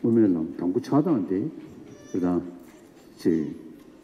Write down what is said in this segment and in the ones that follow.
དབུ་མའི་ལམ་དང་པོ་ཆགས་སྟངས་དེ་རེད།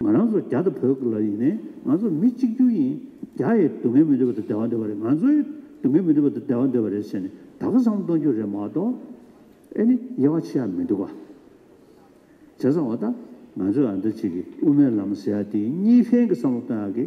ང་རང་ཚོ་རྒྱ་དང་བོད་ལ་ཡིན་ནའི་ང་ཚོ་མི་གཅིག་གྱུར་ཡིན། རྒྱ་ཡི་སྡུག་བསྔལ་མི་འདོད་པ་དེ་བདེ་བ་འདོད་པ་རེད་ང་ཚོའི་སྡུག་བསྔལ་མི་འདོད་པ་དེ་བདེ་བ་འདོད་པ་རེད་ཟེར་ནས་དག་བསམ་གཏོང་རྒྱུ་རེད་མ་གཏོགས། ཨེ་ནི་དབྱེ་བ་ཕྱེ་ཡག་མི་འདུག་བྱས་ཙང་བ་ད་ང་ཚོས་འདི་གཅིག་གི་དབུ་མའི་ལམ་ཟེར་ཡག་དེ་གཉིས་ཕན་གྱི་བསམ་བློ་གཏོང་ཡག་གི།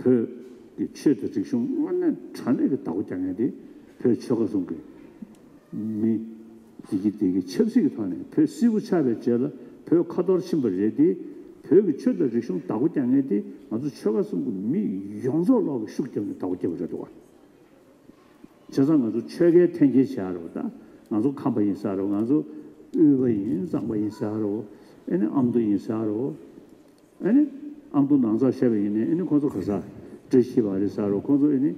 བོད་ཀྱི་ཆོས་དང་རིག་གཞུང་དངོས་གནས་དྲང་གནས་ཀྱི་བདག་པོ་རྒྱག་མཁན་དེ་བོད་ཆོལ་ཁ་ཟུང་གི་མི། དེ་གིས་དེ་གིས་ཆབ་སྲིད་ཀྱི་ཐོག་ནས་བོད་སིལ་བུ་ཆགས་པའི་རྗེས་ལ་བོད་ཁ་འཐོར་ཕྱིན་པ་རེད་དེ། བོད་ཀྱི་ཆོས་དང་རིག་གཞུང་བདག་པོ་རྒྱག་མཁན་དེ་ང་ཚོ་ཆོལ་ཁ་ཟུང་གི་མི་ཡོངས་རྫོགས་ལོག་གི་ཤུགས་རྒྱབ་ནས་བདག་པོ་བསྐྱེད་པ་རེད་དོ། བྱས་ཙང་ང་ཚོ་ཆོལ་ཁའི་འཐེན་འཁྱེར་བྱས་རོགས་ད། ང་ཚོ་ཁམས་པ་ཡིན་ས་རོགས་ང་ཚོ་དབུས་པ་ཡིན་གཙང་པ་ཡིན་ས་རོགས་ཨེ་ནས་ཨ་མདོ་ཡིན་ས་རོགས། ཨེ་ནི། ཨ་འབུ་ནང་ཚགས་ཤ་བའི་ཡིན་ནི་ཨེ་ནི་ཁོང་ཚོ་ག་ས། འདྲེ་ཤི་བ་རེད་ས་རོ་ཁོང་ཚོ་ཨེ་ནི།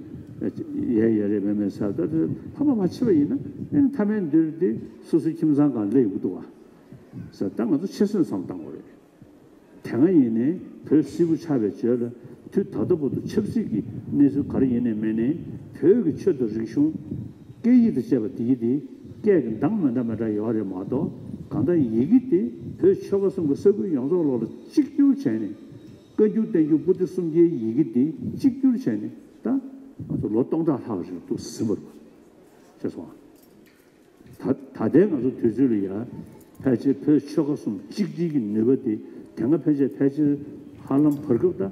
ཡའི་ཡ་རེད་མེ་མེ་ས་ད་དེ་ཕ་མ་མ་འཆི་བ་ཡིན་ན་ཨེ་ནི་མཐའ་མའི་འདིར་དེ་སོ་སོའི་ཁྱིམ་ཚང་གང་སླེ་ཡོང་གི་འདུག་བ། ས་ད་ང་ཚོ་ཆེ་སོན་བསམ་བཏང་བ་རེད། དེ་སྔ་ཡིན་ནི་བོད་སིལ་བུ་ཆགས་པའི་བྱོས་ལ་དུས་ད་ལྟ་བུ་དུ་ཆབ་སྲིད་ཀྱི་གནས་ཚུལ་ག་རེ་ཡིན་ནི་མེད་ནི་བོད་ཀྱི་ཆོས་དང་རིག་གཞུང། སྐད་ཡིག་དང་བཅས་པ་འདི་ཡིག་འདི་སྐད་ཀྱི་མདངས་མི་འདྲ་མི་འདྲ་ཡོད་རེད་མ་གཏོགས་གང་ལྟར་ཡི་གེ་འདི་བོད་ཆོལ་ཁ་གསུམ་གྱི་ས་ཁུལ་ཡོངས་རྫོགས་ལོགས་ལ་གཅིག་གྱུར་བྱས་ནས། བཀའ་འགྱུར་བསྟན་འགྱུར་པུ་ཏི་སུམ་བརྒྱའི་ཡི་གེ་འདི་གཅིག་གྱུར་བྱས་ནས་ད། ང་ཚོ་ལོ་སྟོང་ཕྲག་ལྷག་རིང་ཏུ་ཟིན་པར། ཤེས་སོང་ཨ། ད་ད་ལྟའི་ང་ཚོ་དུས་ཚོད་ལ་ཡ། ཕལ་ཆེར་བོད་ཆོལ་ཁ་གསུམ་གཅིག་སྒྲིལ་གྱི་ནུས་པ་འདི་དེ་སྔ་ཕལ་ཆེར་ཕལ་ཆེར་ཧ་ལམ་བར་སྐབས་ད།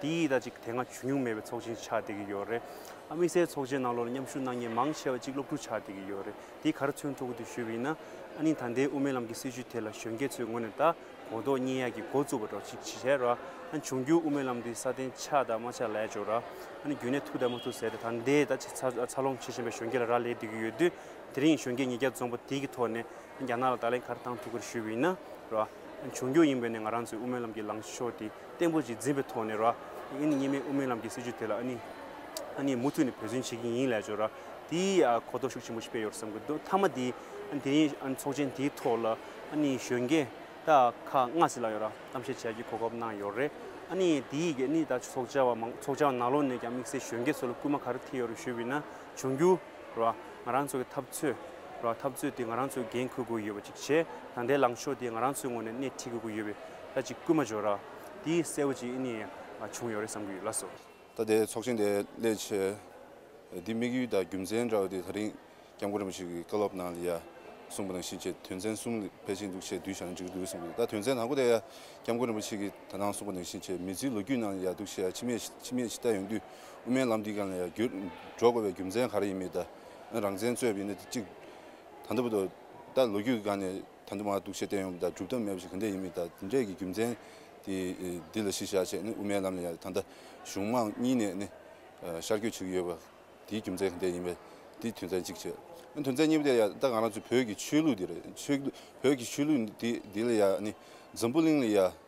དེ་ཡིས་ད་ཅིག་དེ་སྔ་བྱུང་མྱོང་མེད་པའི་ཚོགས་ཆེན་ཆགས་བསྡད་ཀྱི་ཡོད་རེད། དམིགས་བསལ་ཚོགས་ཆེན་ནང་ལོར་མཉམ་ཞུགས་གནང་མཁན་མང་ཆེ་བ་གཅིག་སློབ་ཕྲུག་ཆགས་བསྡད་ཀྱི་ཡོད་རེད་དེ་གར་མཚོན་ཐུག་གི་འདུག་ཞུས་པ་ཡིན་ན། ཨ་ནི་ད་ལྟའི་དབུ་མའི་ལམ་གྱི་སྲིད་བྱུས་དེ་ལ་གཞོན་སྐྱེས་ཚོའི་ངོས་ནས་ད་གོ་རྟོགས་རྙེད་ཡག་གི་འགོ་བཙུགས་པ་འགྲོ་ཅི་བྱས་ར། ཨ་འབྱུང་འགྱུར་དབུ་མའི་ལམ་འདི་སྲ་བརྟན་ཆགས་དང་མ་ཆགས་ལས་ཆོག་ར། ཨ་ནི་རྒྱུན་གནས་ཐུག་དང་མ་ཐུག་ཟེར་ཏེ་ད་ལྟའི་ད་ཆ་འཚར་ལོངས་བྱེད་བཞིན་པའི་གཞོན་སྐྱེས་ལ་རག་ལས་བསྡད་ཀྱི་ཡོད་དུས། དེ་རིང་གཞོན་སྐྱེས་ཉིས་བརྒྱ་འཛོམས་པ་དེ་གི་ཐོག་ནས་ཨ་ནི་རྒྱ་ནག་ལ་ད་ལན་གར་བཏང་ཐུག་གི་རེད་ཞུས་པ་ཡིན་ན། ར། ཨ་འབྱུང་འགྱུར་ཡིན་པས་ནས་ང་རང་ཚོའི་དབུ་མའི་ལམ་གྱི་ལངས་ཕྱོགས་དེ། བརྟན་པོ་ཞིག་འཛིན་པའི་ཐོག་ནས་ར་ཨི་ནི་གཉིས་མེད་དབུ་མའི་ལམ་གྱི་སྲིད་བྱུས་དེ་ལ་ཨ་ནི་ཨ་ནི་མུ་མཐུད་ནས་བོད་བརྫུན་བྱེད་ཀྱིན་ཡིན་ལས་བྱོས་ར་དེའི་གོ་རྟོགས་ཤུགས་ཆེན་པོ་ཞིག་སྤེལ་ཡོད་རེད་བསམ་གི་འདུག་མཐའ་མ་དེ་དེ་རིང་ཚོགས་ཆེན་དེའི་ཐོག་ལ་ཨ་ནི་གཞོན་སྐྱེས་དག་ཁག་ལྔ་ཟི་ལ་ཡོད་ར་གཏམ་བཤད་བྱས་ཀྱི་གོ་སྐབས་གནང་ཡོད་རེད་ཨ་ནི་དེའི་གེ་ཨ་ནི་ད་ཚོགས་བཅར་བ་མང་ཚོགས་བཅར་བ་ནང་ལོགས་ནས་ཀྱང་དམིགས་བསལ་གཞོན་སྐྱེས་ཚོ་ལ་སྐུལ་མ་ག་རེ་ཐེབས་ཡོད་རེད་ཞུས་དབྱི་ན། འབྱུང་འགྱུར་རོ། ང་རང་ཚོ་གི་འཐབ་རྩོད་རོ། འཐབ་རྩོད་དེ་ང་རང་ཚོས་འགན་འཁུར་དགོས་ཡོད་པ་ཅིག་བྱས་དང་དེའི་ལངས་ཕྱོགས་དེ་ང་རང་ཚོའི་ངོས་ནས་སྣེ་ཁྲིད་དགོས་ཀྱི་ཡོད་པའི་ལ་ཅིག་སྐུལ་མ་བྱོས་ར། དེ་གསལ་བོ་ཅིག་ཨིནི་བྱུང་ཡོད་རེད་བསམ་གྱི་ཡོད་ལགས་སོ། ད་ལྟའི་ཚོགས་ཆེན་དེ་སླད་ཆེད་དེ་དམིགས་ཡུལ་དང་རྒྱུ་མཚན་འདྲ་བ་དེ་ད་རིང་སྐྱབས་མགོན་རིན་པོ་ཆེ་གི་བཀའ་སློབ་ནང་ལ་ཡ་གསུངས་པ་དང་བཞིན་ཆེད་དོན་ཚན་གསུམ་ལས་ཕལ་ཆེར་འདུག་ཆེད་དུས་བཞག་ན་འགྲིག་གི་འདུག་གསུངས་ཀྱི་འདུག་ད་དོན་ཚན་དང་པོ་དེ་ཡ་སྐྱབས་མགོན་རིན་པོ་ཆེ་གི་ད་ནང་གསུངས་པ་དང་བཞིན་ཆེད་མེད་ཚུལ་ལོ་རྒྱུས་ནང་ལ་ཡ་འདུག་ཆེད་ཡ་ཕྱི་མས་ཕྱི་མས་ཕྱི་བལྟ་ཡོང་དུས་དབུ་མའི་ལམ་འདི་གང་ལ་ཡང་འགྲོ་དགོས་པའི་རྒྱུ་མཚན་ག་རེ་ཡིན་མི་གདའ། རང་བཙན་རྩོད་པའི་གནད་དེ་གཅིག། ད་ལྟ་བུ་དོ། ད་ལོ་རྒྱུས་ཀྱི་སྒང་ནས་ད་དུ་མ་གཏུགས་ཆེད་བསྟན་ཡོང་པ་དང་སྒྲུབ་ཐབས་མེད་པ་ཞིག་ག་འདྲས་ཡིན་མི་གདའ་དེ་འདྲས་ཀྱི་རྒྱུ་མཚན་དེ་འདི་ལ་གཞི་བཞག་བྱས་ནས་དབུ་མའི་ལམ་ལ་ཡང་ད་ལྟ་གཞུང་མང་གཉིས་ནས་ནི་ཤར་སྐྱོད་བྱེད་ཀྱི་ཡོད་པ་དེའི་རྒྱུ་མཚན་ག་འདྲས་ཡིན་པ་དེ་དོན་ཚན་གཅིག་བྱས། དོན་ཚན་གཉིས་པ་དེ་ཡང་ད་གང་རང་ཚོའི་བོད་ཀྱི་ཆོས་ལུགས་འདི་རེད། བོད་ཀྱི་ཆོས་ལུགས་འདི་ལ་ཡང་ནི་འཛམ་བུ་གླིང་ལ་ཡང།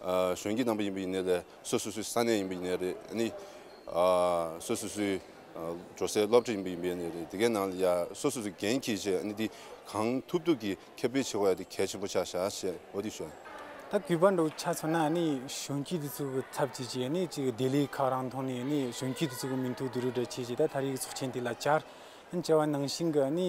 གཞོན་སྐྱེས་རྣམ་པ་ཡིན་པ་ཡིན་ནའི་ལས་སོ་སོ་སོའི་ས་གནས་ཡིན་པ་ཡིན་ནའི་རེད་ནི། སོ་སོ་སོའི་འགྲོ་སའི་སློབ་གྲྭ་ཡིན་པ་ཡིན་པའི་ནི་རེད་དེ་གའི་ནང་ལ་ཡ་སོ་སོ་སོའི་འགན་ཁྱེར་ཆེད་ནི་དེ་གང་ཐུབ་ཐུབ་ཀྱིས་ཁྱབ་སྤེལ་བྱེད་དགོས་ཡ་དེ་གལ་ཆེན་པོ་ཆགས་ཤ་ཞེས་འོ་དེ་ཞོན། ད་གུས་པ་འདུག་ཆ་མཚོན་ན་ནི་གཞོན་སྐྱེས་དེ་ཚོ་གི་ཚབ་བྱེད་ཆེད་ནི་ཅིག་ལྡི་ལི་ཁག་རང་ཐོག་ནས་ནི་གཞོན་སྐྱེས་དེ་ཚོ་གི་མིང་ཐོག་དུ་རུ་འདྲ་བྱེད་ཆེད་ད་ད་རིགས་ཚོགས་ཆེན་དེ་ལ་བཅར། ཨ་ནི་བཅར་བ་ནང་བཞིན་གི་ནི་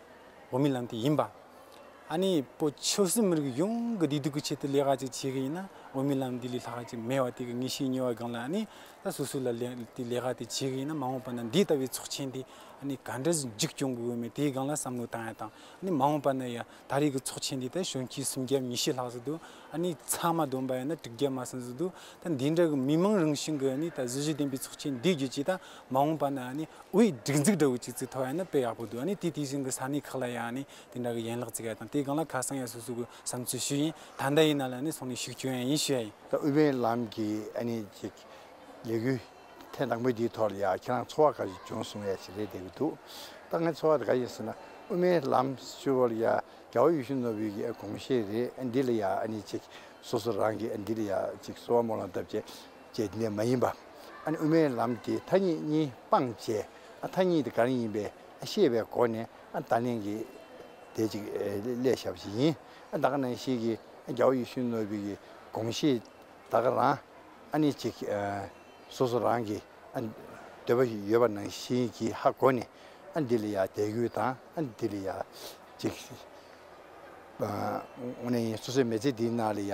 འོ་མའི་ལམ་དེ་ཡིན་པ། ཨ་ནེ་པོ་ཆོས་སྲིད་མི་རིགས་ཡོངས་ཀྱི་བདེ་སྡུག་གི་ཆེད་དུ་ལས་ཀ་ཅིག་བྱེད་ཀྱི་ཡིན་ན་འོ་མའི་ལམ་འདི་ལས་ལྷག་ཅིག་མེད་བ་དེ་གི་ངེས་ཤེས་ཉོ་བའི་སྒང་ལ་ཨ་ནེ་ལ་སོ་སོ་ལ་ལས་དེ་ལས་ཀ་དེ་བྱེད་ཀྱི་ཡིན་ན་མ་འོངས་པ་ན་འདི་ལྟ་བུའི་ཚོགས་ཆེན་དེ་ཨ་ནེ་ག་འདྲ་འཇིག་སྐྱོང་དགོས་མིན་དེའི་སྒང་ལ་བསམ་བློ་བཏང་ཡ་དང་ཨ་ནེ་མ་འོངས་པ་ན་ཡ་ད་རེས་ཀྱི་ཚོགས་ཆེན་འདི་ད་གཞོན་སྐྱེས་སུམ་བརྒྱ་ཉི་ཤེས་ལྷག་ཟེར་འདུག་ཨ་ནེ་ཚང་མ་བསྡོམས་པ་ཡིན་ན་དྲུག་བརྒྱ་མ་ཟིན་ཟེར་འདུག་ད་འདི་འདྲ་གི་མི་མང་རང་བཞིན་གྱི་ཨ་ནེ་ད་གཟི་བརྗིད་ལྡན་པའི་ཚོགས་ཆེན་འདི་བརྒྱུད་ཀྱི་ད་མ་འོངས་པ་ན་ནི་དབུས་སྒྲིག་འཛུགས་འདྲ་བོ་ཅིག་ཚུད་ཐུབ་ཡ་ན་དཔེ་ཡག་པོ་འདུག་ཨ་ནི་དེ་དེ་བཞིན་གྱི་ས་གནས་ཁག་ལ་ཡང་ནི་དེ་འདྲ་གི་ཡན་ལག་བརྩི་ག་དང་དེ་སྒང་ལ་ཁ་སང་ཡང་སོ་སོ་གི་བསམ་ཚུལ་ཞུས་ཡིན་ད་ལྟ་ཡིན་ན་ལ་ནི་སོང་ནས་ཤུགས་བསྐྱོན་ཡ་ཡིན་ཞུས་ཡ་ཡིན། ད་དབུས་པའི་ལམ་གྱི་ཨ་ནི་ཅིག་ལས་གུ་ཐན་དང་པོ་དེའི་ཐོག་ལ་ཡང་ཁྱེད་རང་ཚོ་བ་ག་ཞིག་བྱུང་སོང་ཡ་ཞིག་རེད་བསྡད་གི་འདུག་ད་ང་ཚོ་བ་དེ་ག་ཡིན་ཟེར་ན་དབུས་མའི་ལམ་ཞུ་བ་ལ་ཡ་རྒྱ་བ་ཡུལ་ཤུལ་ནོར་བུའི་གི་གོང་བཤད་རེད་འདི་ལ་ཡ་ཨ་ནི་ཅིག་སོ་སོ་རང་གི་འདི་ལ་ཡ་ཅིག་སོ་བ་མོ་ལང་བཏབ་ཅེས་ཅེས་འདི་ནས་མ་ཡིན་པ། ཨ་ནི་དབུ་མའི་ལམ་དེའི་ཐ་སྙད་གཉིས་སྤངས་བྱས་ཨ་ཐ་སྙད་དེ་ག་རང་ཡིན་པའི་ཨ་ཤེས་པའི་སྒོ་ནས་ཨ་ད་ལན་གྱི་དེ་ཅིག་ལས་ཞབས་ཞིག་ཡིན་ཨ་ད་ག་རང་ཞིག་གིས་ཨ་རྒྱ་བོ་ཡེ་ཤུ་ནོ་བི་གི་དགོངས་གཞི་ད་ག་རང་ཨ་ནི་ཅིག་སོ་སོ་རང་གི་ཨ་འདོད་པ་ཡོད་པ་ནང་བཞིན་གྱི་ཧ་གོ་ནས་ཨ་འདི་ལ་ཡ་དད་གུ་དང་ཨ་འདི་ལ་ཡ་ཅིག་ཨ་ནི་སོ་སོའི་མེ་ཚེ་འདི་ན་ལ་ཡ་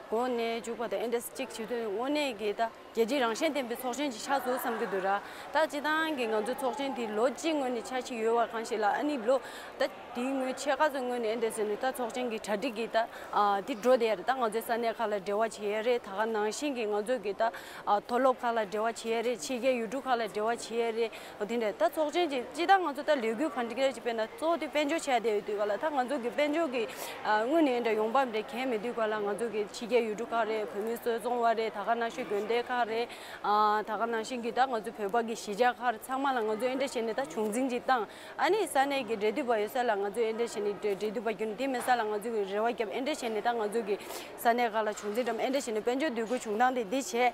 གོ་གནས་འཇུག་པ་དང་ཨེ་འདྲ་སེ་གཅིག་བྱེད་དོན་དངོས་གནས་ཀྱི་ད་རྒྱལ་སྤྱིའི་རང་ཞེན་ལྡན་པའི་ཚོགས་ཆེན་གྱི་ཆགས་སྲོལ་བསམ་གྱི་འདུག་ར་ད་སྤྱི་བཏང་གི་ང་ཚོའི་ཚོགས་ཆེན་དེ་ལོ་གཅིག་སྔོན་ནས་ཆགས་ཀྱི་ཡོད་བ་གང་ཞིག་ལ་ཨ་ནི་ལོ་ད་དེའི་སྔོན་ཆད་ག་ཚོད་སྔོན་ནས་ཨེ་འདྲ་ཟེར་ནས་ད་ཚོགས་ཆེན་གྱི་གྲ་སྒྲིག་གི་ད་དེ་འགྲོ་བསྡད་རེད་ད་ང་ཚོའི་ས་གནས་ཁག་ལ་འབྲེལ་བ་བྱེད་ཡས་རེད་ད་ག་ནང་བཞིན་གྱི་ང་ཚོ་གི་ད་མཐོ་སློབ་ཁག་ལ་འབྲེལ་བ་བྱེད་ཡས་རེད་ཕྱི་རྒྱལ་ཡུལ་གྲུ་ཁག་ལ་འབྲེལ་བ་བྱེད་ཡས་རེད། ཨོ་དེ་འདྲ་ད་ཚོགས་ཆེན་གྱི་སྤྱི་བདག་ང་ཚོ་ད་ལས་འགུལ་གང་ཅིག་རེ་ཅིག་སྤེལ་ན་གཙོ་བོ་དེ་དཔལ་འབྱོར་ཆེ་བ་དེ་ཡོད་དུས་ག་ལ་ད་ང་ཚོ་གི་དཔལ་འབྱོར་གྱི་དངུལ་ནི་འདྲ་ཡོང་འབབ་འདྲ་གྱེན་མེད་དུས་ག་ལ་ང་ཚོ་གི་ཕྱི་རྒྱལ་ཡུལ་གྲུ་ཁག་རེད་བོད་མི་གསོད་བཙོང་བ་རེད་ད་ག་ནང་བཞིན་དགོན་སྡེ་ཁག་རེད་ད་ག་ནང་བཞིན་གྱི་ད་ང་ཚོ་བོད་པ་གི་གཞིས་ཆགས་ཁག་རེད་ཚང་མ་ལ་ང་ཚོ་འདྲ་བྱེད་ནི་ད་བྱུང་འཛིན་གྱི་སྟངས་ཨ་ནི་ས་གནས་གྱི་འབྲེལ་འདུས་པ་ཡོད་ས་ལ་ང་ཚོ་འདྲ་བྱེད་ནི་འབྲེལ་འདུས་པ་རྒྱུ་ནི་དེ་མིན་ས་ལ་ང་ཚོ་གི་རེ་བ་བརྒྱབ་འདྲ་བྱེད་ནི་ད་ང་ཚོ་གི་ས་གནས་ཁག་ལ་བྱུང་འཛིན་འདྲ་བྱེད་ནི་དཔལ་འབྱོར་འདུས་སྒོའི་བྱུང་སྟངས་དེ་འདི་བྱེད་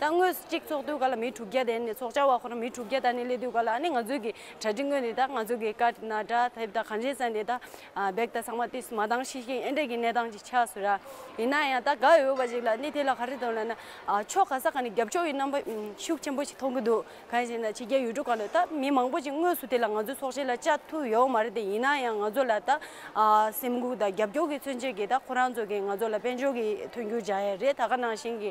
ད་དངོས་སུ་གཅིག་ཚོགས་དུས་ག་ལ་མི་དྲུག་བརྒྱ་དེ་ནི་ཚོགས་བཅར་བ་ཁོ་ན་མི་དྲུག་བརྒྱ་ད་ནི་སླེབས་དུས་ག་ལ་ནི་ང་ཚོའི་གི་གྲ་སྒྲིག་དངོས་འདི་དག་ང་ཚོའི་གི་ཀ་ན་སྒྲ་ཐེབས་དང་གངས་ཅན་ས་འདི་དག་བེག་དང་ཚང་མ་དུས་སུ་མ་འདང་ཤི་ཤི་ཨེ་འདྲས་གི་གནས་སྟངས་ཅིག་ཆགས་སུ་ར་ཡིན་ན་ཡང་ད་དགའ་འོས་བ་ཞིག་ལ་ནི་དེ་ལ་ག་རེ་དང་ལ་ན་ཕྱོགས་ག་ས་ག་ནས་རྒྱབ་ཕྱོགས་ཡི་རྣམ་པ་ཤུགས་ཆེན་པོ་ཞིག་མཐོང་གི་འདུག་གང་ཞེ་ན་ཕྱི་རྒྱལ་ཡུལ་གྲུ་ག་ལ་ད་མི་མང་པོ་ཞིག་དངོས་སུ་དེ་ལ་ང་ཚོའི་ཚོགས་ཆེན་ལ་བཅར་ཐུབ་ཡོའོ་མ་རེད་དེ་ཡིན་ན་ཡང་ང་ཚོ་ལ་ད་སེམས་འགུག་དང་རྒྱབ་སྐྱོར་གི་མཚོན་བྱེད་གི་ད་ཁོ་རང་ཚོ་གི་ང་ཚོ་ལ་དཔལ་འབྱོར་གི་མཐུན་འགྱུར་བྱ་ཡ་རེད་ད་ག་ནང་བཞིན་གི